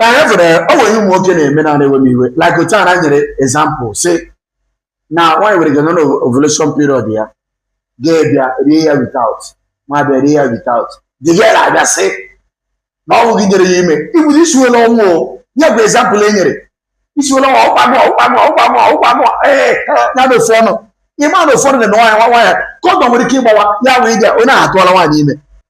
ee fụrụ o nwere ihe ụmụ nwoke na-eme na na-ewe m iwe like otu a na nyere example sị na nwaanyị nwere ike nọ na ovulation period ya gị abịa rie ya without ma bịa rie ya without the girl abịa sị na ọ wụ gị nyere ya ime ibu isuwela ọnwụ o ya bụ example e nyere isuwela ọnwụ ọkwa mụọ ọkwa mụọ ọkwa mụọ ọkwa mụọ ee ya na ofu ọnụ ịma na ụfọdụ na nwaanyị nwa nwaanyị kọndọm nwere ike ịgbawa ya wee ga onye ahụ atụọla nwaanyị ime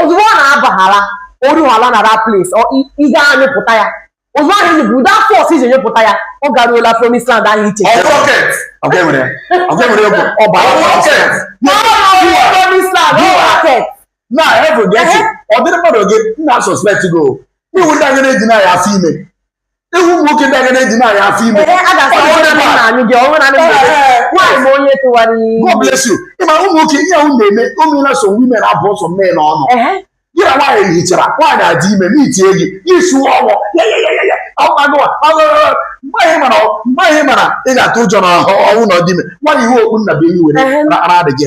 ozugbo ọ na-abahala o ruhala na that place ị ga-anyụpụta ya ụzọ ahụ enyi bụ ụdị afọ ọsọ i ji nyụpụta ya ọ garuola promise land ahụ iche na heaven ga-eche ọ dịrị mmadụ gị nna suspect go iwu ndị agha na-eji na ya afọ ime ị hụ ụmụ nwoke ndị agadi eji na-aya afọ ime Ee, a ga-asị Ọ onye na-eme a. na-anụ gị, ọnwụ na-anụ gị. Ee, Nwaanyị bụ onye tụwara iyi. God bless you ị ma ụmụ nwoke ihe ahụ na-eme o meela so women abụ ọsọ mee n'ọnụ Ehe. gị na nwaanyị hichara nwaanyị adị ime n'itie gị gị suo ọnwụ ya ya ya ya ya ọgwagụwa mgbe anyị mara mgbe anyị mara ị ga-atụ ụjọ na ọ wụ na ọ dị ime nwaanyị yiwe okpu nnabuenyi were Ehe. ara adịghị